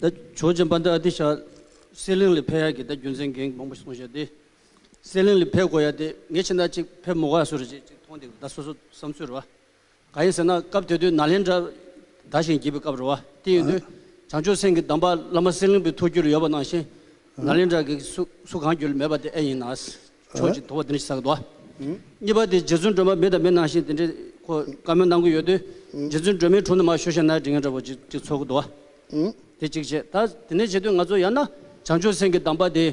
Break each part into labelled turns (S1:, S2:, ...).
S1: ད་ཆོས་རྗེ་འབངས་ཏི་ཨ་ཏི་ཤ་སེར་གླིང་ལི་ཕེ་ཡ་གི་ད་རྒྱུ་མཚན་འགན་མང་པོ་སོང་ཤ་ཏི་སེར་གླིང་ལི་ཕེ་གོ་ཡ་ཏི་ངས་ཕྱི་ཟླ་གཅིག་ཕེབས་མོ་ག་ས་རུ་ཅིག་མཐོང་འདུག་ད་སོ་སོ་བསམ་ཚུལ་རོ། ག་ཡིན་ཟེར་ན་སྐབས་དེ་དུས་ནཱ་ལེནྡྲ་དར་ཞིང་རྒྱས་པའི་སྐབས་རོ། དེ་ཡིན་དུས་བྱང་ཆུབ་སེམས་ཀྱི་གདམས་པ་བླ་མ་སེར་གླིང་པའི་ཐུགས་རྒྱུད་ལ་ཡོད་པ་ནང་བཞིན་ནཱ་ལེནྡྲ་གིས་སུ་གང་རྒྱུད་ལ་མེད་པ་དེ་ཨེ་ཡིན་ནཱ། ཕྱོགས་གཅིག་དོར་བ་དེ་འདྲ་ཞིག་བསགས་འདུག་གཉིས་པ་དེ་རྗེ་བཙུན་སྒྲོལ་མ་མི་དང་མི་ནང་བཞིན་དེ་འདྲའི་ཁོ་བཀའ་མོལ་གནང་གི་ཡོད་དུས་རྗེ་བཙུན་སྒྲོལ་མའི་དྲུང་དུ་མ་ཤོད་ཤེ་ནའི་དྲི་ངན་འདྲ་བོ་ཅིག་ཅིག་ཚོར་གི་འདུག་དེ་གཅིག་བྱས་ད་དེ་ནས་བྱས་དུས་ང་ཚོ་ཡང་ན་བྱང་ཆུབ་སེམས་ཀྱི་གདམས་པ་དེ།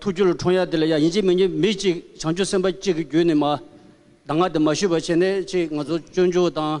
S1: ཐུགས་རྒྱུད་ལ་འཁྲུངས་ཡ་དེ་ལ་ཡང་ཡིན་གཅིག་མིན་གཅིག་མི་གཅིག་བྱང་ཆུབ་སེམས་དཔའ་གཅིག་གི་རྒྱུད་ནས་མ་གདམས་ང་དེ་མ་ཞུས་པ་བྱས་ནས་ཅིག་ང་ཚོ་སྤྱོད་འཇུག་དང།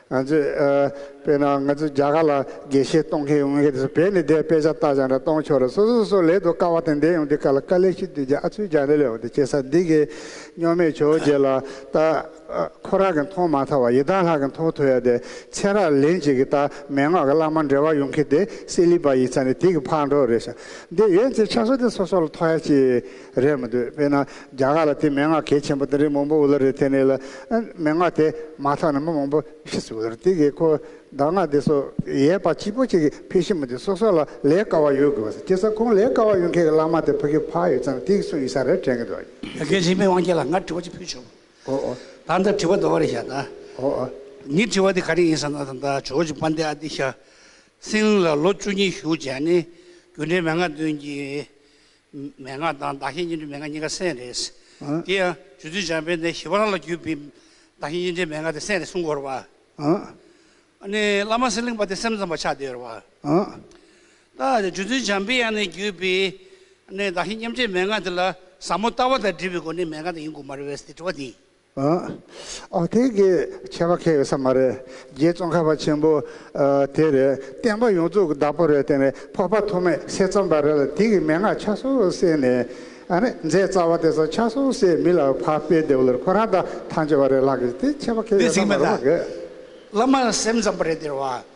S2: ང་ཚོས་དཔེར་ན་ང་ཚོས་རྒྱ་གར་ལ་དགེ་བཤེས་གཏོང་མཁན་ཡོང་མཁན་དེ་ཚོ་བོད་ནས་བསྡད་དཔེ་ཆ་བལྟ་སྦྱངས་འདྲ་གཏོང་ཆོག་རེད་སོ་སོ་སོ་སོ་ལས་དོ་དཀའ་བ་དེ་འདས་ཡོང་དུས་ཁ་ལ་དཀའ་ལས་ཤིག་དུས་རྒྱ་ཨ་ཚུལ་རྒྱ་འདྲེ་ལས་ཡོང་དུས་ཁྱེད་ས་འདི་གའི་སྨྱོ་མེད་ཆོས་རྗེ་ལ་ད་ཁོ་རང་གི་མཐོང་མ་ཐག་བ་ཡི་དམ་ལྷ་གི་མཐོང་ཐོས་ཡ་དེ་མཚན་རག་ལན་ཅིག་གིས་ད་མན་ངག་གི་བླ་མ་འདྲེ་བ་ཡོང་མཁན་དེ་སེ་ལི་བ་ཡིས་ཚ་ནས་དེ་གི་ཕག་འགྲོ་རེད་ཤག་འདི་ཡོད་ཚེ་ཆ་སོ་དེ་སོ་སོ་ལ་ཐོ་ཡ་ཅིག། རེད་མི་འདུག་དཔེར་ན་རྒྱ་གར་ལ་དེ་མན་ངག་གལ་ཆེན་པོ་དེ་རི་མང་པོ་འུ་ལ་རེ་ཐེ་ནས་ལ་མན་ངག་དེ་མ་ཐག་ན་མི་མང་པོ་ཤི་སུ་ལ་རེ་དེ་གི་ཁོ་གདག་ངག་དེ་སོགས་ཡས་པ་སྐྱིད་པོ་ཅིག་གི་ཕེ་ཤི་མི་འདུག་སོ་སོ་ལ་ལས་དཀའ་བ་ཡོད་དགོས་པ་སེ་ཁྱེད་ས་ཁོང་ལས་དཀའ་བ་ཡོད་མཁན་གི་བླ་མ་དེ་ཕ་གི་ཕ་ཡོད་ཙམ་དེ་གི་སུ་ཡིན་ས་རེ་དྲན་གི་འདུག། ཡ་གལ་ཆེན་མི་དབང་རྒྱལ་
S3: ལ་ང་དྲི་བ་ཅིག་ཕུལ་བྱུང། ཨོ་ཨོ། ད་འདི་དྲི་བ་དོ་བ་རེ་ཤག་ད། ཨོ་ཨོ། ངའི་དྲི་བ་དེ་ག་རེ་ཡིན་ས་ན་ད་འདའ་ཇོ་ཇོ་པ་འདའི་ཨ་དེ་ཤ་སྲིན་ལ་ལོ་བཅུ་གཉིས་བཞུགས་བྱས་ནས་རྒྱུ་འབྲས་མན་ངག་འདོན་གྱི་མན་ངག་དང་བདག་གཞན་གཉིས་འདྲེས་མན་ངག་གཉིས་ཀ་སེམས་རེད། དེ་ཡང་རྗོད་ཚུལ་འཇམ་དཔལ་ནས་ཞི་བ་རང་ལ་བརྒྱུད་པའི་བདག་གཞན་གཉིས་འདྲེས་མན་ངག་དེ་སེམས་རེད་གསུང་གོ་ར། ནི་བླ་མ་སེམས་གླིང་པ་དེ་སེམས་ཙམ་པ་ཆགས་བསྡད་ཡོད་ར། ད་རྗོད་ཚུལ་འཇམ་དཔལ་ཡང་ནས་བརྒྱུད་པའི་བདག་གཞན་མཉམ་འདྲེས་མན་ངག་དེ་ལ་ཟབ་མོ་ལྟ་བ་དང་འདྲིས་པའི་སྒོ་ནས་མན་ངག་དེ་ཡིན་དགོས་མ་རེད་བས་སྟེ་དྲི་བ་འདི་ཡིན། ཨ་ཨ་དེ་གི་
S2: ཆད་པ་ཁེལ་ཡོད་ས་མ་རེད་རྗེ་བཙོང་ཁ་བ་ཆེན་པོ་དེ་རེད་བསྟན་པ་ཡོངས་རྫོགས་ཀྱི་བདག་པོ་རེད་བསྟན་རེད་ཕོར་པ་ཐོག་མེད་སེ་རྩོམ་པ་རེད་ལ་དེ་གི་མན་ངག་ཆ་སོགས་བསྲེས་ནས་ཨ་ནི་མཛད་རྩ་བ་དེ་ཚོ་ཆ་སོགས་བསྲེས་མི་ལ་ཕ་སྤེལ་དེ་བ་ལོར་ཁོ་རང་དང་ཐང་ཆོད་པ་རེད་ལགས་ཀྱི་དེ་ཆད་པ་ཁེལ་འདི་ཡོད་ས་ཚིག་མ་མེད་རེད་ལགས། བླ་མར་
S3: སེམས་ཙམ་པ་རེད་དེར་བ།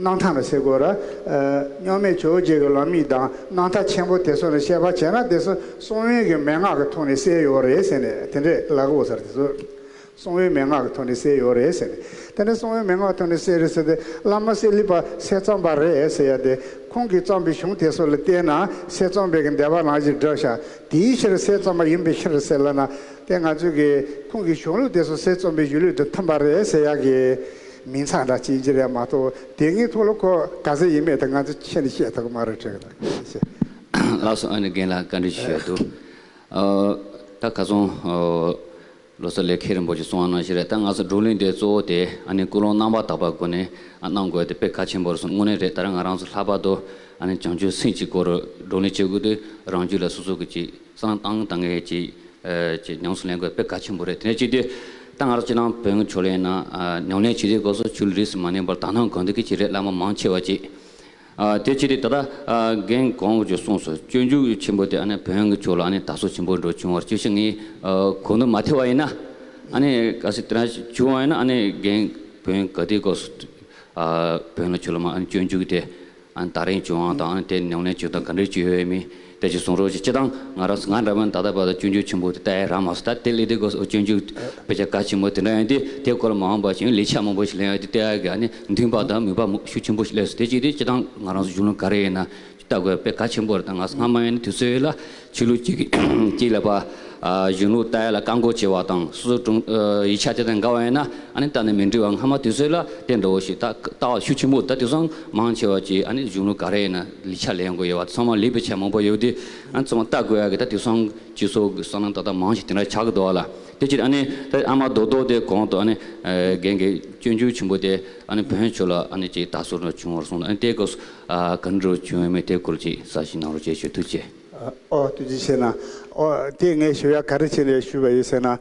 S2: སྣང་མཐའ་ལ་སེ་གོལ། རྙོག་མེད་ཆོས་རྗེ་གི་ལམ་ཡིག་དང་སྣང་མཐའ་ཆེན་པོ་དེ་སོགས་ནས་བཤད་པ་བྱས་ན་དེ་གསུང་དབྱིངས་ཀྱི་མན་ངག་གི་ཐོག་ནས་གསལ་ཡོད་རེད་ཟེར་ནས་དེ་འདྲས་ལགས་ཨོ་སར་དེ་ཚོ་གསུང་དབྱིངས་མན་ངག་གི་ཐོག་ནས་གསལ་ཡོད་རེད་ཟེར་ནས་དེ་འདྲས་གསུང་དབྱིངས་མན་ངག་གི་ཐོག་ནས་གསལ་རེད་ཟེར་ཏེ་བླ་མ་གསེར་ལི་པ་སེ་བརྩམས་པ་རེད་ཟེར་ཡ་དེ་ཁོང་གིས་བརྩམས་པའི་གཞུང་དེ་ཚོ་ལ་བལྟས་ན་སེ་བརྩམས་པའི་གི་འདས་པ་ལང་གཞི་འདྲ་ཤག་དེའི་ཕྱིར་སེ་བརྩམས་པ་ཡིན་པའི་ཕྱིར་ཟེར་ལ་ན་དེ་ང་ཚོས་གི་ཁོང་གི་གཞུང་ལུགས་དེ་ཚོ་སེ་བརྩམས་པའི་གཞུང་ལུགས་དུ་འཐམས་པ་རེད་ཟེར་ཡག་གི། མིང་ཚང་དང་བྱིན་གྱིས་རལ་མ་གཏོགས་དེ་སྔའི་ཐོག་ལོ་ཁོ་ག་ཟེ་ཡིན་མེད་དེ་ང་ཚོ་ཁྱེད་ནས་ཤེས་ཐུབ་ཀྱི་མ་རེད་དྲན་གི་འདུག།
S4: ལགས་སོ་ཨ་ནི་རྒན་ལགས་བཀའ་འདྲི་ཞུ་ཡག་འདུག། ད་ག་ཚོང་ལོ་ས་ལས་ཁེ་རིན་པོ་ཆེ་གསུང་བ་གནང་ཞིག་རེད་ད་ང་ཚོ་འགྲོ་གླིང་འདི་གཙོ་བོ་དེ་ཨ་ནི་ཀུན་སློང་རྣམ་པར་དག་པ་སྒོ་ནས་གནང་དགོས་དེ་དཔེ་གལ་ཆེན་པོར་སོང་དངོས་གནས་རེད་ད་ར་ང་རང་ཚོ་ལྷག་པར་དུ་ཨ་ནི་བྱང་ཆུབ་སེམས་ཀྱི་སྐོར་བགྲོ་གླེང་བྱེད་དགོས་དུས་རང་རྒྱུད་ལ་སོ་སོ་གི་གཅིག་གསང་སྟངས་དང་ངེས་ཅི་ཅི་ཉམས་སུ་ལེན་དགོས་དཔེ་གལ་ཆེན་པོ་རེད་དེ་ནས་གཅིག་དེ་ད་ང་རང་སྤྱིར་ནང་བོན་གྱི་ཕྱོགས་ལས་ཡིན་ན་ཉམས་ལེན་བྱེད་རྒྱུའི་སྐོར་སོགས་ཆུ་ལུད་རིས་སུ་མ་ནོན་པར་དག་སྣང་དགོས་འདོད་ཀྱི་བྱེད་རེས་བླ་མ་མང་ཆེ་བ་གཅིག་དེ་གཅིག་དེ་ད་ལྟ་རྒན་གོང་གིས་གསུངས་སོ་སྤྱོད་འཇུག་ཆེན་པོ་དེ་བོན་གྱི་ཕྱོགས་ལ་དར་སོ་ཆེན་པོ་འགྲོ་བྱུང་བར་ཅི་ཞིག་ངས་གོ་འདུག་མ་ཐེ་བ་ཡིན་ན་གལ་སྲིད་དེ་འདྲ་བྱུང་བ་ཡིན་ན་རྒན་བོན་ག་དེའི་སྐོར་བོན་ལ་ཆོས་ལ་མ་སྤྱོད་འཇུག་དེ་ད་རིང་བྱུང་བ་དང་དེ་ཉུང་ནས་བྱུང་དང་ག་འདྲའི་བྱུས་ཡོད་མིན་དེ་ཅིག་གསུང་རོགས་གྱིས་སྤྱི་བཏང་ང་རང་ང་འདྲ་མིན་ད་ལྟ་བར་དུ་སྤྱོད་འཇུག་ཆེན་པོ་དེ་ལྟའི་རང་མ་བཟོ་ད་དེ་ལས་དེ་གོ་སོགས་སྤྱོད་འཇུག་དཔེ་ཆ་ག་ཆེན་མོ་དེ་འདྲ་ཡོད་དེ་དེ་སྐོར་མ་འོངས་པ་ཞིག་ལས་ཆ་མང་པོ་ཞིག་ལེན་ཡོད་དེ་དེ་ག་ནི་མཐུན་པ་དང་མི་བབ་མུག་ཤུགས་ཆེན་པོ་ཞིག་ལས་སོ་དེ་ཅིག་དེ་སྤྱི་བཏང་ང་རང་གཞུང་ལུགས་ག་རེ་ཡིན་ན་ལྟ་དགོས་དཔེ་ག་ཆེན་པོ་རེ་དང་ང་སྔ་མ་ཡིན་ན་དུས་ཚོད་ལ་ཆོས་ལུགས་གཅིག་ལ་བར། གཞུང་ལུགས་ལྟ་ཡ་ལ་བཀག་འགོག་བྱེད་པ་དང་སོ་སོ་དྲུང། ཡིག་ཆ་དེ་དང་འགལ་བ་ཡིན་ན་ཨ་ནི་ལྟ་ནས་མི་འགྲིག་བ་སྔ་མ་དུས་ཚོད་ལ་བརྟེན་འགྲོ་བོ་ཞིག་ལྟ་བ་ཤུགས་ཆེན་པོ་ད་དེ་སང་མང་ཆེ་བ་གྱིས་ཨ་ནི་གཞུང་ལུགས་ག་རེ་ཡིན་ན་ལི་ཆ་ལེན་དགོས་ཡོད་བ་ཚང་མ་ལི་པའི་ཆ་མང་པོ་ཡོད་དེ་ཨ་ནི་ཚང་མ་ལྟ་དགོས་ཡ་གི་ད་དེ་སང་སྤྱི་ཚོགས་ཀྱི་སང་ལམ་ད་ལྟ་མང་ཞིག་དེ་འདྲ་ཆགས་ཀྱི་འདུག་བ་ལ་དེ་ཕྱིར་ཨ་ནི་ད་ཨ་མ་རྡོག་རྡོག་དེ་གོང་དུ་ཨ་ནི་རྒན་གྱི་སྤྱོད་འཇུག་ཆེན་པོ་དེ་ཨ་ནི་བོན་ཆོས་ལ་ཨ་ནི་ཅིག་ད་སོ་ན་བྱུང་བར་གསུངས་ཨ་ནི་ལྟས་སྐབས་སུ། གང་འགྲོ་བྱུང་བའི་མི་དེ་སྐོར་ཅིག་ས་ཞིང་ནང་རུ་བསྐྱལ་ཞོར་ཐུགས་རྗེ། ཨོ་ཐུགས་རྗེ་ཆེ།
S2: ཨོ་དེ་ངས་ཞུ་ཡ་ག་རེ་བྱེད་ནས་ཞུས་པ་ཡིན་ཟེར་ན།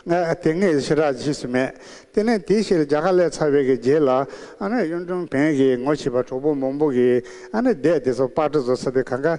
S2: ང་དེ་སྔའི་ཕྱི་དྲག་བྱས་ཟིན་མེད། དེ་ནས་དེའི་ཕྱིར་རྒྱ་གར་ལས་ཚར་བའི་གི་རྗེས་ལ། ཨ་ནི་གཡུང་དྲུང་བོན་གྱི་ངོ་བྱེད་པ་གྲོགས་པོ་མང་པོ་གིས་ཨ་ནི་བསྡད་དེ་ཚོ་པར་སྒྲ་བཟོ་ས་དེ་ག་འགའ་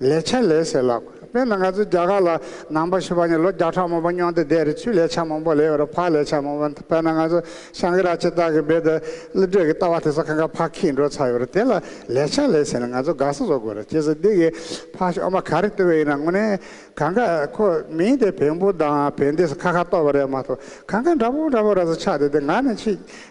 S2: ལས་བྱ་ལས་ཟེར་ལགས། དཔེར་ན་ང་ཚོ་རྒྱ་གར་ལ་ནང་པ་ཤི་བ་ནི་ལོ་བརྒྱ་ཕྲག་མང་པོ་སྨྱོ་འདི་བསྡད་རེད་ཆུ་ལས་བྱ་མང་པོ་ལས་ཡོད་རེད་ཕག་ལས་བྱ་མང་པོ་དཔེར་ན་ང་ཚོ་ཤང་ཀི་ར་ཆེ་དག་གི་སྦེད་དེ་གླུད་བྲེག་གི་ལྟ་བ་དེ་ཚོ་ཁ་ཁ་ཕག་ཁྱིས་འགྲོ་ཚར་ཡོད་རེད་དེ་ལ་ལས་བྱ་ལས་ཟེར་ནས་ང་ཚོ་དགའ་ས་བཟོ་དགོས་རེད་ཅེས་སོ་འདི་གི་ཕག་ཤོ་མ་ག་རེ་བཏུལ་བས་ཡིན་ན་དངོས་གནས་གང་ག་ཁོ་མིང་དེ་བེམ་པོ་དང་བེ་འདི་སོ་ཁ་ཁ་བཏོགས་པ་རེད་མ་གཏོགས་གང་ག་འདྲ་པོ་འདྲ་པོ་ར་ས་ཆགས་འདི་དེ་ང་ནི་ཆེས་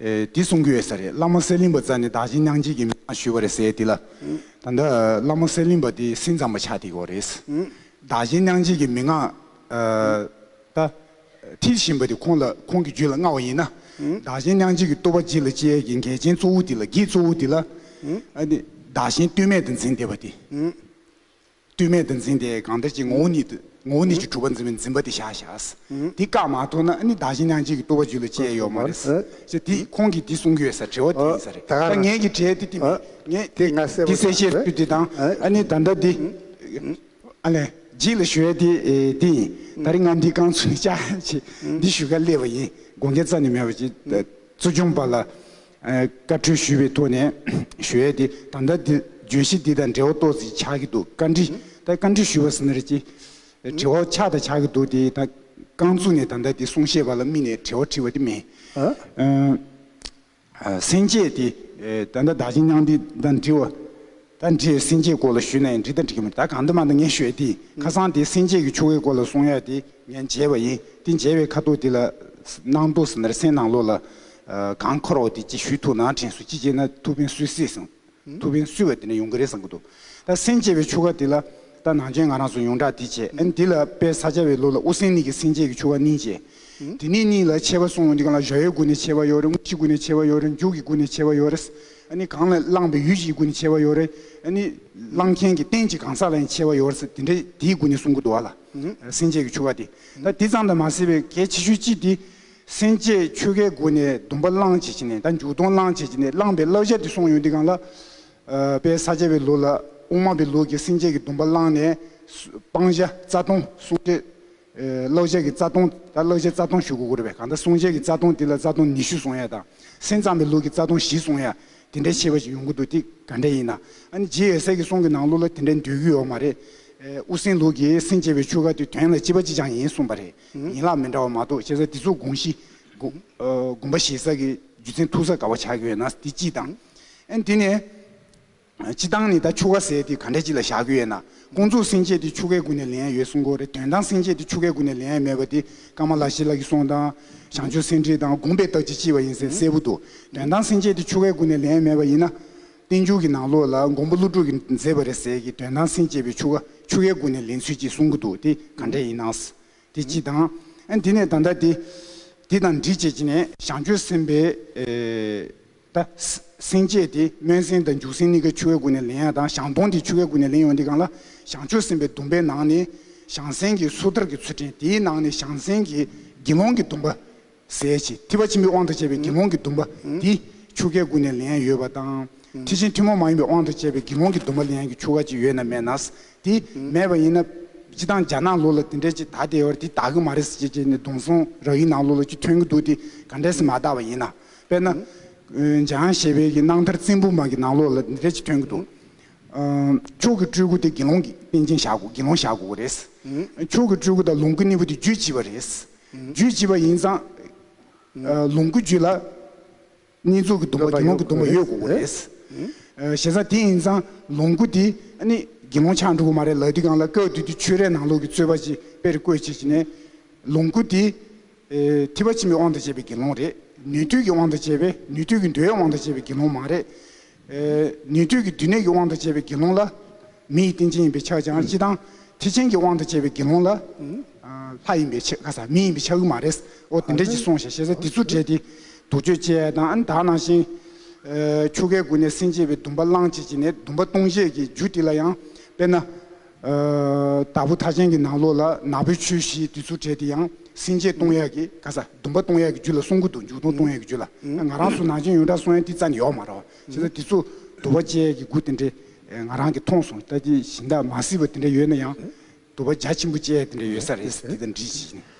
S5: འདི་གསུང་གི་ཡོད་ས་རེད་བླ་མ་གསེར་གླིང་པ་ཛར་ནས་བདག་ཅིང་གནང་བྱེད་ཀྱི་མི་མང་ཞུས་པ་རེད་ཟེར་དེ་ལ། ད་ལྟ་བླ་མ་གསེར་གླིང་པ་དེ་སེམས་ཙམ་པ་ཆགས་དེ་གོ་རེད། བདག་གཞན་གནང་བྱེད་ཀྱི་མི་མང། ད། འཁྲིད་བཞིན་པ་དེ་ཁོང་ལ་ཁོང་གི་རྒྱུད་ལ་མངའ་བ་ཡིན་ན། བདག་གཞན་གནང་བྱེད་ཀྱི་ལྟོ་བ་ལྗིད་ལ་བཅས་ཀྱི་འགལ་རྐྱེན་གཙོ་བོ་དེ་ལ་བགེགས་གཙོ་བོ་དེ་ལ། བདག་གཞན་ལྟོས་མེད་དུ་འཛིན་བདེ་བ་དེ། བསྟོད་སྨད་དུ་འཛིན་ཏེ་གང་དེར་གྱི་ངོ་བོ་ཉིད་ངོ་བོ་ཉིད་ཀྱི་གྲུབ་པ་འཛིན་པའི་འཛིན་པ་དེ་བཞག་བྱ། དེ་བཀག་མ་ཐོབ་ན་ནི་བདག་གཞན་སྣང་བྱེད་ཀྱི་བསྟོད་པ་རྒྱུད་ལ་སྐྱེ་ཡོད་མ་རེད། ཅེས་དེ་ཁོང་གིས་འདི་གསུང་གི་ཡོད་ས་བྲེལ་བ་དེ་ཡིན་ས་རེད། ད་ངེད་ཀྱིས་བྲེལ་ཏེ་བསྟི་མེད། འདི་གསལ་བྱེད་རྒྱུད་འདི་དང་ཨ་ནི་ད་ལྟ་འདི། ཨ་ལས། རྗེས་ལ་ཞུ་ཡས་དེ་ཡིན། ད་རེས་ང་འདི་བསྐང་ཚུལ་ནི་བཅའ་བྱེད་འདི་ཞུ་ག་སླེབས་པ་ཡིན་དགོངས་འགལ་རྩ་ནས་མེད་པ་བཅས། བཙུན་ཆུང་པ་ལ། བཀའ་འཁྲོལ་ཞུས་པའི་ཐོག་ནས་ཞུ་ཡས་དེ་ད་ལྟ་བརྗོད་གཞི་འདི་དང་འབྲེལ་བ་ཏོག་ཙིས་ཆགས་ཀྱི་འདུག་བཀའ་འདྲི་ད་བཀའ་འདྲི་ཞུས་པ་ཟིན་རེད་ཅེས་དྲི་བ་ཆགས་དང་ཆགས་ཀྱི་འདུག་དེ་ད་རྐང་ཚུགས་ནས་ད་ལྟ་དེ་གསུང་བཤད་པ་ལ་དམིགས་ནས་དྲི་བ་དྲིས་པ་དེ་མིན། སེང་ཆེས་དེ་ད་ལྟ་བདག་ཅིང་སྙང་འདི་དང་འདྲི་བ། ད་འདྲིའི་སེམས་བསྐྱེད་སྐོར་ལ་ཞུས་ན་ཡང་འགྲིག་དང་འགྲིག་གི་མེད་ད་གང་འདོད་མ་འདོད་ངས་ཤོད་དེ་ཁ་སང་དེ་སེམས་བསྐྱེད་ཀྱི་ཆོ་གའི་སྐོར་ལ་གསུང་ཡ་དེ་ངས་མཇལ་བ་ཡིན་དེ་མཇལ་བའི་ཁ་ཐུག་དེ་ལ་སྣང་དུ་ཟིན་ནར་སེམས་ནང་ལོག་ལ་གང་འཁོར་འོ་དེ་ཅི་ཞུས་ཐུག་ནང་དྲན་སུ་ཅི་བྱས་ན་ཐུག་ཕན་སུས་སྲིད་གསུང་ཐུག་ཕན་སུས་བ་དེ་ནས་ཡོང་གི་རེད་བསམ་གི་འདུག་ད་སེམས་བསྐྱེད་པའི་ཆོ་ག་དེ་ལ་ད་ནང་ཆེན་ང་རང་སུ་ཡོང་དྲག་དེ་བྱས་ཨན་དེ་ལ་དཔལ་ས་སྐྱ་བའི་ལོ་ལ་དབུ་སེང་ནི་གི་སེམས་བསྐྱེད་ཀྱི་ཆོ་ག་གནིང་བྱས་དེ་ནི་གནིང་ལ་ཆེ་བ་སོང་འོ་དེ་གང་ལ་བཞག་ཡོད་དགུ་ནས་ཆེ་བ་ཡོད་རེད་དངུལ་ཆིག་དགུ་ནས་ཆེ་བ་ཡོད་རེད་མཇུག་གི་དགུ་ནས་ཆེ་བ་ཡོད་རེད་ནི་གང་ལ་བླངས་པའི་ཡུལ་གཞིའི་དགུ་ནི་ཕྱེ་བ་ཡོད་རེ་ནི། བླངས་མཁན་གྱི་རྟེན་གྱི་གང་ཟག་ལ་ནི་ཕྱེ་བ་ཡོད་རེ་དེ་འདྲའི་དེའི་དགུ་ནི་སྲུང་སྐུ་བསྡུ་བ་ལ། སེམས་བསྐྱེད་ཀྱི་ཆོ་ག་སྟེ། ད་དེ་ཙམ་དུ་མ་ཟད་པའི་གལ་ཆེ་ཤོས་གཅིག་དེ། སེམས་བསྐྱེད་ཆོ་གའི་སྒོ་ནས་སྡོམ་པ་བླངས་བྱེད་ཀྱི་ནས་ད་འཇུག་སྡོམ་བླངས་བྱེད་ཀྱི་ནས་བླངས་པའི་བསླབ་བྱ་དེ་གསུངས་ཡོད་འདི་གང་ལ། དཔལ་ས་སྐྱ་པའི་ལུགས་ལ་དབུ་མ་པའི་ལུགས་ཀྱི་སེམས་བསྐྱེད་ཀྱི་སྡོམ་པ་བླངས་ནས། སྤང་བྱ་རྩ་ལྟུང་བསྲུང་བྱེད། གློག་ཆས་ཀྱི་རྩ་སྟོང། ད་གློག་ཆས་རྩ་སྟོང་ཞུ་དགོས་ཀྱི་རེད་པས་གང་ལྟར་སྲུང་བྱེད་ཀྱི་རྩ་སྟོང་དེ་ལ་རྩ་སྟོང་ཉི་ཤུ་སོང་ཡ་དང། སེམས་ཙམ་པའི་ལུགས་ཀྱི་རྩ་སྟོང་བཞི་སོང་ཡ། དེ་འདྲའི་ཆེ་བ་ཞིག་ཡོང་གི་འདུག་དེ་ག་འདྲས་ཡིན། ཨ་ནི་རྗེ་ཡེ་སེས་ཀྱི་གསུང་གི་ནང་ལུགས་ལ་དེ་འདྲས་འདོད་ཀྱི་ཡོད་མ་རེད། དབུ་སེང་ལུགས་ཀྱིས་སེང་ཅེས་པའི་ཆོས་སྐར་དེ་དོན་ལ་སྤྱི་པ་ཅི་ཅང་ཡིན་གསུངས་པ་རེད། ཡིན་ལག་མི་འདྲ་བ་མ་གཏོགས་བྱས་ཙང་འདི་ཚོ་དགོངས་གཞི། དགོངས་པ་བཞེས་ས་ཀྱི་རྒྱུ་མཚན་ཐུག་ས་ག་བ་ཆགས་ཀྱི་ཡོད་ན་དེ་སྤྱི་དང། ཨ་ནི་དེ་ནས། སྤྱི་བཏང་ནས་ད་ཆུ་ཁ་ཟས་དེ་ག་འདྲས་ཅིག་ལ་བཞག་གི་ཡོད་ན་ཀུན་རྫོགས་སེང་ཆེ་དེ་ཆུ་ཁའི་སྒོ་ནས་ལེན་ཡ་ཡོད་སུ་མགོ་རེད་དོན་དང་སེང་ཆེ་དེ་ཆུ་ཁའི་སྒོ་ནས་ལེན་ཡ་མེད་པ་དེ་ཀརྨ་བླ་ཤེས་ལགས་ཀྱི་གསུང་དང། ཞང་ཆོས་སེང་ཁྲིད་དང་དགོངས་པའི་རྟགས་ཀྱིས་ལྕི་བ་ཡིན་ཟེར་གསལ་པོ་འདུག་དོན་དང་སེང་ཆེ་དེ་ཆུ་ཁའི་སྒོ་ནས་ལེན་ཡ་མེད་པ་ཡིན་ན། བསྟན་འགྱུར་གྱི་ནང་ལོགས་ལ་མགོན་པོ་ཀླུ་སྒྲུབ་ཀྱིས་མཛད་པ་རེད་ཟེར་གི་དོན་དང་སེང་ཆེ་བས་ཆུ་ཁ་ཆུ་ཁའི་སྒོ་ནས་ལེན་ཚུལ་གྱིས་གསུང་གི་འདུག་དེ་ག་འདྲས་ཡིན་ནའང་དེ་སྤྱི་བཏང། ཨན་དེ་ནས་ད་ལྟ་དེ་དེ་དང་འདྲིས་བྱེད་ཀྱི་ནས་ཞང་ཆོས་སེམས་དཔའི། ད། སེམས་བསྐྱེད་དེ་སྨོན་སེམས་དང་འཇུག་སེམས་གཉིས་ཀ་ཆུ་བོའི་སྒོ་ནས་ལེན་ཡ་དང་བྱང་སྟོང་དེ་ཆུ་བོའི་སྒོ་ནས་ལེན་ཡོང་དེ་གང་ལ། བྱང་ཆུབ་སེམས་དཔའི་སྡོམ་པའི་ནང་ནས་བྱང་སེམས་ཀྱི་སོ་ཐར་གྱི་ཚུལ་ཁྲིམས་དེའི་ནང་ནས་བྱང་སེམས་ཀྱི་དགེ་སློང་གི་སྡོམ་པ། ཟས་བཅད་ཐིགས་པ་ཆེན་པོའི་དབང་དང་བཅས་པའི་དགེ་སློང་གི་སྡོམ་པ་དེ་ཆུ་ཁའི་སྒོ་ནས་ལེན་ཡོད་པ་དང། ཐེག་ཆེན་ཐུན་མོང་མ་ཡིན་པའི་དབང་དང་བཅས་པའི་དགེ་སློང་གི་སྡོམ་པ་ལེན་ཡ་གི་ཆུ་ཁ་ཅིག་ཡོད་ན་མེད་ན། དེ་མེད་པ་ཡིན་ན། སྤྱི་དང་བྱ་ནང་ལོགས་ལ་དེ་འདྲས་ཅིག་དག་དེའི་བར་དེ་དག་གི་མ་རེད་ཟེར་ཅེས་བྱས་ནས་སྡོང་སོང་ར་ཡི་ནང་ལོགས་ལ་ཅིག་ཐོན་གྱི་འདུག་དེ་ག་འདྲས་སུ་མ་དག་པ་ཡིན་ན། དཔེར་ན། འཇང་ཞེས་པའི་གྱི་སྣང་མཐར་རྩིང་བུ་མ་གི་ནང་ལོགས་ལ་འདི་འདྲ་གཅིག་ཐོན་གྱི་འདུག། ཕྱོགས་ཀྱི་སྤྲུལ་སྐུ་དེ་དགེ་སློང་གི་རྟེན་ཅན་བཞག་གོ་དགེ་སློང་བཞག་གོ་རེད། ཕྱོགས་ཀྱི་སྤྲུལ་སྐུ་དང་ལོངས་སྐུ་གཉིས་པོ་དེ་རྒྱུད་གཅིག་པ་རེད། རྒྱུད་གཅིག་པ་ཡིན་ཙང། ལོངས་སྐུ་རྒྱུད་ལ། རྙེད་འཛུགས་ཀྱི་སྡོམ་པ་དགེ་སློང་གི་སྡོམ་པ་ཡོད་གོ་རེད། ཞེ་ས་དེ་ཡིན་ཙང་ལོངས་སྐུ་དེ་ནི་དགེ་སློང་ཆགས་འགྲོ་གི་མ་རེད་ལ་དུས་གང་ལ་སྐལ་བསྡུས་ཏེ་ཆོས་རའི་ནང་ལོགས་ཀྱི་རྩོད་པ་ཅིག་དཔེར་བཀོད་བྱེད་ཀྱི་ནས། ལོངས་སྐུ་དེ། ཐིབས་པ་ཕྱིན་པའི་དབང་དུ་བྱས་པའི་དགེ་སློང་རེད། ནུས་མཐུ་ཀྱི་དབང་དུ་བྱས་པས་ནུས་མཐུ་ཀྱི་འདུལ་བའི་དབང་དུ་བྱས་པའི་དགེ་སློང་མ་རེད། ནུས་མཐུ་ཀྱི་བསྡུས་གནས་ཀྱི་དབང་དུ་བྱས་པའི་དགེ་སློང་ལ། མི་ཡི་རྟེན་ཅན་ཡིན་པའི་ཕྱག་བྱ་ཅི་དང། ཐེག་ཆེན་གྱི་དབང་དུ་བྱས་པའི་དགེ་སློང་ལ། ལྷ་ཡིན་པའི་ཕྱག་ས་མི་ཡིན་པའི་ཕྱག་རྒྱུ་མ་རེད། འོ་དེ་འདྲས་ཀྱིས་སོང་ཞེས་ཞེ་ས་དེ་ཚུར་བསྒྲད་དེ། དུག་ཆོས་བཅས་དང་དག་སྣང་ཞིང། ཆུ་ཁའི་མགུལ་ནས་སྲིན་བྱེད་པའི་སྡུམ་པ་བླངས་བྱེད་ཀྱིས་ནས་སྡུམ་པ་ལྟུང་བྱེད་ཀྱི་རྒྱུ་དེ་ལ་ཡང། དཔེར་ན། བདག་པོ་ཐག་ཆེན་གྱི་ནང་ལོགས་ལ་ནག་པོའི་ཆོས་བཞིའི་བདུད་ཚུལ་བྲལ་དེ་ཡང་སྲིན་བྱད་སྟོང་ཡག་གི་ག་ས་སྡུམ་པ་སྟོང་ཡག་གི་རྒྱུད་ལ་གསུང་སྐུ་འདུག་མཇུག་སྟོང་སྟོང་ཡག་གི་རྒྱུད་ལ་ང་རང་སུ་ནང་ཆེན་ཡོན་བཀྲ་སོང་ཡན་ཏི་རྩ་ནས་ཡོག་མ་ར་བ་བྱེད་ས་དེ་ཚོ་དུ་བ་བཅས་ཀྱི་དགུ་དེ་འདྲེ་ང་རང་གི་མཐོང་སོང་ལྟ་དེ་བཞིན་དག་མ་སྲིད་པ་དེ་འདྲ་ཡོད་ན་ཡང་དུ་བ་རྒྱ་ཆེན་པོ་བཅས་དེ་འདྲ་ཡོད་ས་རེད་ས་དེ་དང་འདྲིས་བྱེད་བཞིན།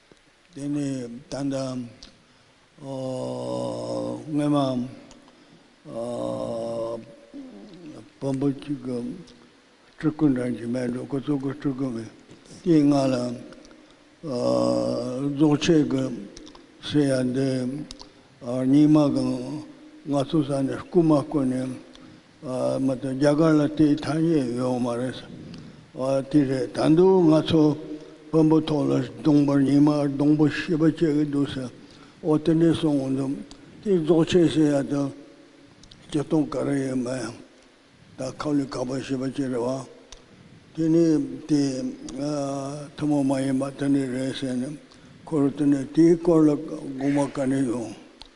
S6: དེ་ནི་ད་ལྟ་སྔོན་མ་བོན་པོ་གཅིག་གི་སྤྲུལ་སྐུ་འདྲ་གཅིག་མེད་འགྲོ་ཁོ་ཚོ་གི་སྤྲུལ་སྐུ་མེད་དེའི་སྔ་ལ་རྫོགས་ཆེན་གྱི་སྲས་ཡ་འདི་རྙིང་མ་གི་ང་ཚོ་ས་ནས་སྐུ་མ་བསྐོན་ནས་མ་གཏོགས་རྒྱ་གར་ལ་དེའི་ཐ་སྙད་ཡོད་མ་རེད་ས་བ་དེ་རེད་ད་འདུག་ང་ཚོ་བོན་པོ་ཐོག་ལ་སྡོང་པར་ཉི་མ་སྡོང་པོ་ཞེས་པ་སྤྱད་ཀྱི་འདུག་ས་བ་དེ་འདྲས་སོང་ངོ་འདུག་དེ་རྫོགས་ཆེན་ཟེར་ཡ་དང་སྤྱི་སྟོང་ག་རེ་ཡོད་མ་ཡང་ད་ཁབ་ལི་ག་པ་ཞེས་པ་སྤྱད་རེད་བ་དེ་ནི་དེ་ཐུན་མོང་མ་ཡིན་པ་དེ་འདྲས་རེད་ཟེར་ནས་ཁོ་རུ་དེ་འདྲས་དེའི་སྐོར་ལ་དགོངས་པ་ག་ནས་ཡོང་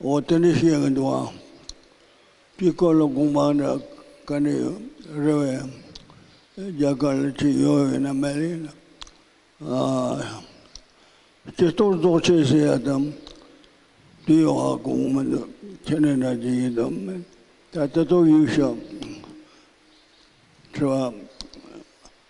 S6: འོ་དེ་འདྲ་བཤད་གི་འདུག་ཨང། དཀྱིལ་འཁོར་ལ་དགོངས་པ་འདྲ་ག་འདྲ་ཡོད་རེད་བས། རྒྱ་གར་ལ་ཅི་ཡོད་ཡོད་ན་མ་ལེན་ན། སྤྱི་གཏོར་རྫོགས་ཆེན་ཟེར་ཡ་དང་དེ་ཡོད་ཨ་གོ་གི་མི་འདུག་ཁྱེད་ནས་འདྲ་ཅི་ཡིན་དང་མིན་ད་ལྟ་ཏོག་དབྱིབས་ཤ་ཁྲི་བ།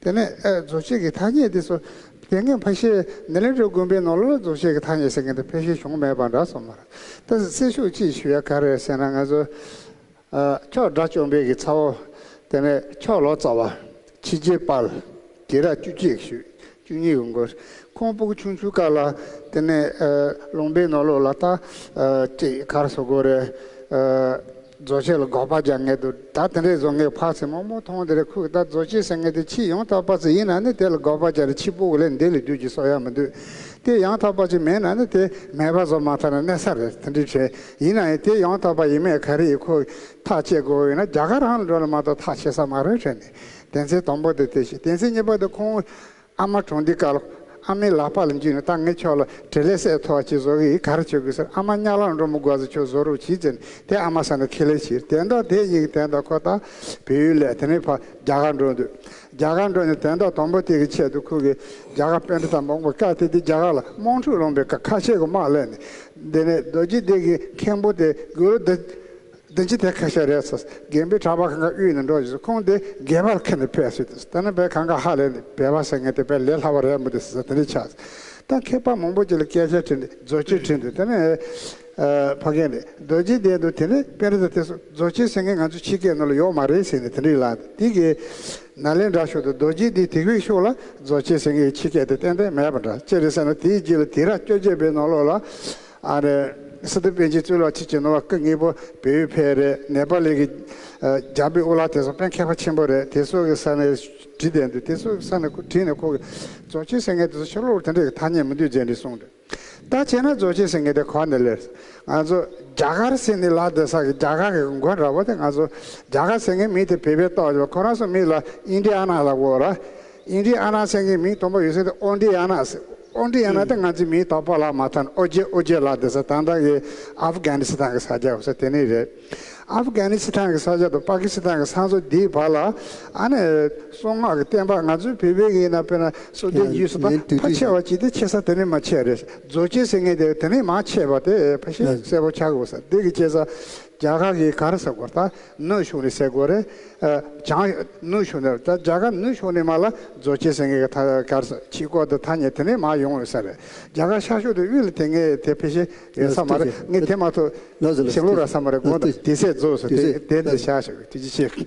S2: དེ་ནས་རྫོགས་ཆེན་གྱི་ཐ་སྙད་འདི་སོ། དེ་སྔའི་ཕ་ཤེལ་ནེ་ལེ་ཀྲོའི་དགོན་པའི་ནོར་ལོ་ལ་རྫོགས་ཆེན་གྱི་ཐ་སྙད་ཟེར་མཁན་དེ་ཕལ་ཆེར་བྱུང་མེད་པ་འདྲ་སོང་མ་རེད། ད་གཟིགས་སེར་ཤུགས་ཅིག་ཞུ་ཡ་ག་རེ་ཟེར་ན་ང་ཚོ། ཁྱོགས་སྦྲ་བཅོམ་པས་ཀྱི་ཚ་བོ། དེ་ནས་ཁྱོགས་ལོ་ཙཱ་བ། ཕྱི་རྒྱལ་དཔལ། གྱི་ར་བཅུ་གཅིག་ཞུ། བཅུ་གཉིས་གི་མགོ། ཁོང་སྤུ་གུ་ཆུང་ཆུང་དཀར་ལ། དེ་ནས་ལུང་པའི་ནོར་ལོ་ལ་ཐ། ཅིག་གར་སོ་གོ་རེ། རྫོགས་བྱེད་ལ་འགོག་པར་སྦྱར་ངེས་དུ་གདའ་དེ་འདྲའི་བཟོ་ངེས་འཕགས་ཚེ་མོག་མོག་མཐོང་དེ་འདྲའི་ཁུག་རྟ་རྫོགས་བྱེད་ཟེར་ངེས་དེ་ཕྱིས་ཡང་དག་པར་ཚེ་ཡིན་ན་ནི་དེ་ལ་འགོག་པར་སྦྱར་རེ་ཕྱིས་སྤུག་ལས་འདས་ལས་རྒྱུད་ཀྱི་སྲོག་ཡང་མི་འདུས་ཏེ་ཡང་དག་པར་ཚེ་མེད་ན་ནི་དེ་མེད་པར་བཟོ་མ་ཐག་ན་གནས་ས་རེ་དེ་འདྲའི་བྲལ་ཡིན་ན་ཡང་དེ་ཡང་དག་པར་ཡིན་མེད་ག་རེ་ཡི་ཁུག་ཐག་བཅད་དགོས་ཡོད་ན་རྒྱ་གར་རང་ལ་འགྲོ་ལ་མ་གཏོགས་ཐག་བཅད་ས་མ་རེད་བྲལ་མེད་དེ་ཚེ་དང་པོ་དེ་དེ་བཞིན་དེ་ཚེ་གཉིས་པ་དེ་ཁོང་ཨ་མ་གྲོངས་དུས་སྐལ་ཨ་མའི་ལག་པ་ལ་འཇུས་ནས་ད་ངས་ཁྱོད་ལ་དྲིན་ལན་གསལ་ཐོ་བ་ཅིག་བཟོ་གི་ཡིན་ག་རེ་བྱེད་དགོས་ཟེར་ཨ་མ་གཉའ་ལག་འགྲོ་མོ་དགོ་ཚེ་ཁྱོད་བཟོ་རོགས་གྱིས་ཟེར་ནས་དེ་ཨ་མ་ས་ནས་ཁས་ལེན་བྱས་དེ་འདྲ་དེ་གཉིས་ཀྱི་དན་ཏག་ཁོ་ད་བོད་ཡུལ་ལས་དེ་ནས་ཕར་རྒྱ་གར་འགྲོ་འདོད་རྒྱ་གར་འགྲོ་ནས་དན་ཏག་དང་པོ་དེ་གི་ཆེད་དུ་ཁོ་གི་རྒྱ་གར་དཔོན་འདི་དང་མག་མག་ཀ་དེ་དེ་རྒྱ་གར་ལ་དམག་འཁྲུག་སློང་པའི་ཁ་ཆད་གོ་དམག་གླས་ནས་འདི་ནས་རྡོ་རྗེ་གདན་གི་མཁན་པོ་དེ་དགོས་ལོ་འདི། བདུན་གྱི་དེ་ཁ་ཤས་རེད་ཟེར། རྒན་པོའི་གྲྭ་པ་གང་ག་དབུས་ནས་འགྲོ་བཞིན་སོང་ཁོང་དེ་སྒལ་པར་ཁེན་ནས་ཕེབས་སོད་དེ། ད་ནི་བས་གང་ག་ཧ་ལས་ནས་བས་བ་ཟེར་ངས་དེ་བས་ལས་སླ་བ་རེད་མོད་དེ་ཟེར་ཟ་དེ་འདྲས་ཆགས་ཟེར། ད་ཁེག་པ་མང་པོ་ཅིག་ལ་སྐད་ཆ་དྲིས་འདི་རྫོ་ཆེན་དྲིས་འདི་དེ་ནི། ཕ་གེ་འདི་རྡོ་རྗེ་བསྡད་འདུག་དེ་ནི་དཔེ་རི་ཟེར་དེ་སོང་རྫོ་ཆེན་ཟེར་ངས་ང་ཚོ་ཕྱི་སྐད་ནོར་ལ་ཡོག་མ་རེད་ཟེར་ནས་དེ་འདྲས་ལ་དེ་གི། ན་ལེན་དྲ་ཤོག་ཏུ་རྡོ་རྗེ་འདི་དིག་བིག་ཤོག་ལ་རྫོ་ཆེན་ཟེར་ངས་ཕྱི་སྐད་དེ་ཏན་ཏན་མེད་པ་འདྲ་ཅི་རེད་ཟེར་ན་དེའི་རྗེས་ལ་དིག་ར་སྐྱོ་ཆེན་པའི་ནོར་ལོག་ལ། ཨ་རེ། སི་ཏུ་པན་ཆེན་གཙོས་ལག་ཁྱེར་གྱི་ནོར་བ་སྐུ་ངེད་པོ་བལ་ཡུལ་ཕལ་རེད་ནེ་པ་ལི་གི་རྒྱ་བོད་དབུ་ལག་དེ་ཚོ་ཕན་མཁས་པ་ཆེན་པོ་རེད་དེ་ཚོ་གི་ས་ནས་བྲིས་བསྡད་འདུག་དེ་ཚོ་གི་ས་ནས་ཁོ་བྲིས་ནས་ཁོ་གི་རྫོགས་ཆེན་སེང་གེ་དེ་ཚོ་ཤོ་ལོ་ལོ་དེ་འདྲ་གི་ཐ་སྙད་མི་འདུག་རྗེས་འདྲི་གསུངས་འདུག་ད་བྱས་ན་རྫོགས་ཆེན་སེང་གེ་དེ་གང་ནས་ལེར་ང་ཚོ་རྒྱ་གར་སེ་ནི་ལ་དེ་ས་གི་རྒྱ་གར་གི་མགོན་ར་བ་དེ་ང་ཚོ་རྒྱ་གར་སེང་གེ་མིང་དེ་བེད་པས་བཏགས་ཡོད་ཁོ་རང་སུ་མིང་ལ་ཨིན་དྲི་ཨ་ནག་ལ་བོ་ར་ཨིན་དྲི་ཨ་ནག་སེང་གེ་མིང་དོམ་པ་ཡོད་སེ་དེ་ཨོ་འདྲི་ཨ་ནག་དབང་འདི་ཡང་ན་དེ་ང་ཚོའི་མིའི་དོགས་པ་ལགས་མ་མཐོང་ཨོ་རྒྱན་ཨོ་རྒྱན་ལགས་འདི་ས་དང་བདག་གི་ཨ་ཕ་གྷན་ནི་སི་ཐན་གི་ས་སྐྱ་བ་ས་དེ་ནི་རེད། ཨ་ཕ་གྷན་ནི་སི་ཐན་གི་ས་སྐྱ་དང་པ་ཀི་སི་ཐན་གི་ས་མཚོ་འདིའི་བར་ལ་ཨ་ནི། གསུང་ངག་གི་བསྟན་པ་ང་ཚོའི་བོད་པའི་གིས་ན་དཔེར་ན་སོ་དེའི་རྒྱུས་སུ་ཕ་ཕ་ཆེ་བ་གཅིག་དེ་ཆེ་ས་དེ་ནི་མ་ཆེ་རེད། རྫོ་ཆེ་ཟེར་ངེས་དེ་དེ་ནི་མ་ཆེ་བ་དེ་ཕ་ཤེས་གསལ་པོ་ཆགས་དགོས་ས་དེ་གི་སྐྱེས་ས་རྒྱ་གར་གྱི་གར་ས་གོར་ཐ་ནུ་གཞུང་ནས་སེ་གོ་རེ་བྱང་ནུ་གཞུང་ནས་རེད་རྒྱ་གར་ནུ་གཞུང་ནས་མ་ལ་རྫོ་ཆེ་སེང་གེ་གི་གར་ས་ཆི་གོ་ཐ་ཐ་ཉེ་དེ་ནས་མ་ཡོང་བའི་ས་རེད་རྒྱ་གར་ཤར་ཕྱོགས་དེ་དབུས་ལ་དེ་ངས་དེ་ཕེ་ཤེ་ཡོད་ས་མ་རེད་ངས་དེ་མ་ཐོ་ཤིང་ལུག་ར་ས་མ་རེད་དགོང་དེ་སེ་རྫོ་སོ་དེ་དེ་འདི་ཤ་ཤ་གི་དེ་ཅི་ཤེས།